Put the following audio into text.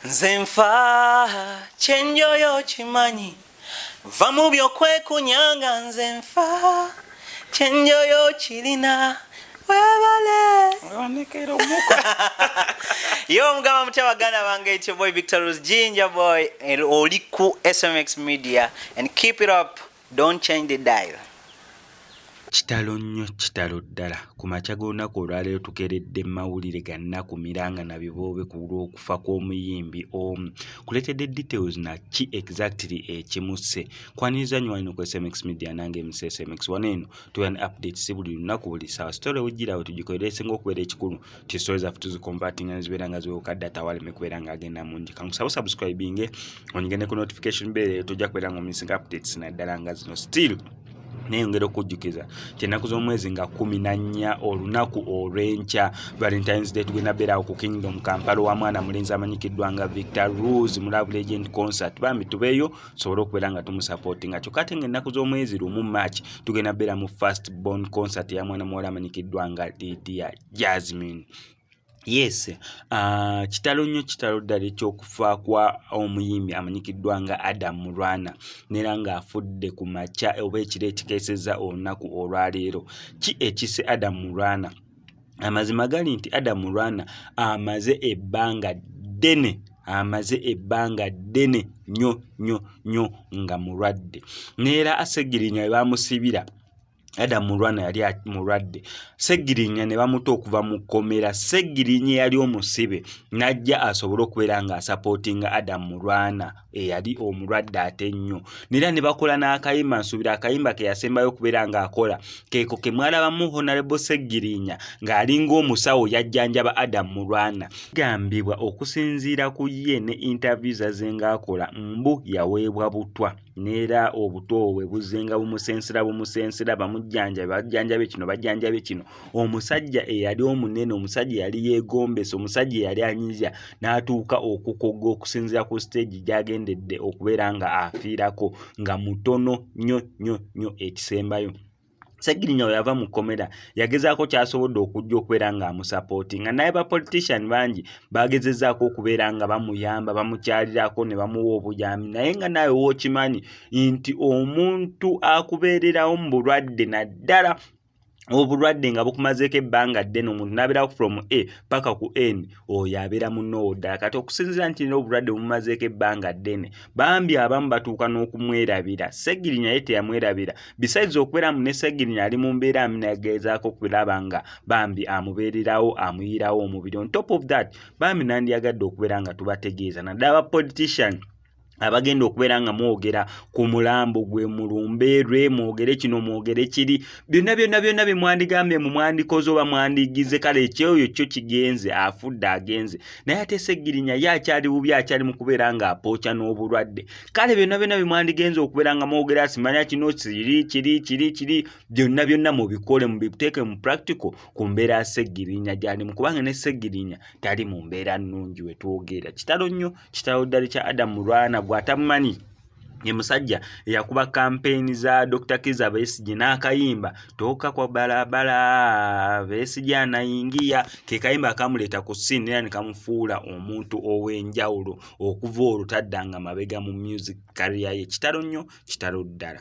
nze nfa kyenjoyo kimanyi va mu byokwekunyanga nze nfa kyenjoyo kirina webale yo omugamba mutya baganda bange ityo boy victor rose ginger boy oli ku smx media and keep it up don't change the dial kitalo nnyo kitalo ddala ku makya g'olunaku olwaleero tukeredde mawulire gannaku miranga na biboobe ku lw'okufa kw'omuyimbi omu kuleetedde details na ki exactly ekimusse kwaniriza nyo wano ku smx media nange mc smx wano eno tuwa ne update si buli lunaku buli sawa story wejjira awo tugikolera esinga okubeera ekikulu ti story zaffe tuziconverting nga zibeera nga ziwewuka data waleme kubeera nga agenda mungi kankusaba subscribinge onyigende ku notification bell eyo tojja kubeera nga omisinga updates naddala nga zino still neyongera okujjukiza kyenaku z'omwezi nga kumi na nnya olunaku olw'enkya valentines day tugenda beerawo ku kingdom kampala wa mwana mulenzi amanyikiddwa nga victor rose mu love legend concert bambi tubeeyo tusobole okubeera nga tumusapotinga kyokka ate nga ennaku z'omwezi lumu march tugenda beera mu first born concert ya mwana muwala amanyikiddwa nga lidia jasmine yes uh, kitalo nnyo kitalo ddala ekyokufa kwa omuyimbi amanyikiddwa nga adam mulwana nera ng'afudde ku makya oba ekiro ekikeeseza olunaku olwaleero ki ekise adam mulwana amazima gali nti adamu lwana amaze ebbanga ddene amaze ebbanga ddene nyo nyo nyo nga mulwadde neera asegirinya webamusibira adamu lwana yali mulwadde segirinya ne bamuta okuva mu kkomera segirinya yali omusibe najja asobole okubeera nga asapootinga adamu lwana eyali omulwadde ate nnyo nera ne bakola n'akayimba nsuubira akayimba ke yasembayo okubeera ng'akola keeko ke mwalabamu honarebo seggirinya ng'alinga omusawo yajjanjaba adamu mu lwana gambibwa okusinziira ku ye ne interview zaze ng'akola mbu yaweebwa butwa neera obutoowe buzenga bumusensera bumusensera bamujjanjabe bajjanjabe kino bajjanjabe kino omusajja eyali omunene omusajja eyali yeegombesa omusajja eyali anyiza n'atuuka okukogga okusinziira ku siteegi gy'agendedde okubeera nga afiirako nga mutono nnyo nnyo nnyo ekisembayo segirinya weyava mu kkomera yagezaako kyasobodde okujja okubeera nga amusapooti nga naye bapolitician bangi bagezezaako okubeera nga bamuyamba bamukyalirako ne bamuwa obuyambi naye nga naawe wookimanyi nti omuntu akubeererawo mu bulwadde naddala obulwadde nga bukumazeeko ebbanga ddene omuntu nabeerawo from a paka ku n oyo abeera munoowo ddala kati okusinzira nti nina obulwadde bumumazeeko ebbanga ddene bambi abamu batuuka n'okumwerabira segiri naye teyamwerabira besides okubeera mu ne segiri ali mu mbeera aminageezaako okulaba nga bambi amubeererawo amuyiirawo omubiri on top of that bambi nandiyagadde okubeera nga tubategeeza naddala ba politician abagenda okubeera nga mwogera ku mulambo gwe mulumbe lwe mwogere kino mwogere kiri byonna byonna byonna bye mwandigambye mu mwandikoze oba mwandigize kale ekyoyo kyo kigenze afudde agenze naye ate segirinya ye akyali bubi akyali mu kubeera nga apooca n'obulwadde kale byonna byonna bye mwandigenze okubeera nga mwogera simanya kino kiri kiri kiri kiri byonna byonna mubikole mubiteeke mu practical ku mbeera segirinya gyalimu kubanga ne segirinya tali mu mbeera nnungi wetwogera kitalo nnyo kitalo ddali kya adamu lwana gwatamumanyi ye musajja eyakuba kampeyini za dr kiza besigye n'akayimba toka kwa balabala besigye anayingiya ke kayimba akamuleeta ku siini era ne kamufuula omuntu ow'enjawulo okuva olwo taddanga mabega mu music kariya ye kitalo nnyo kitalo ddala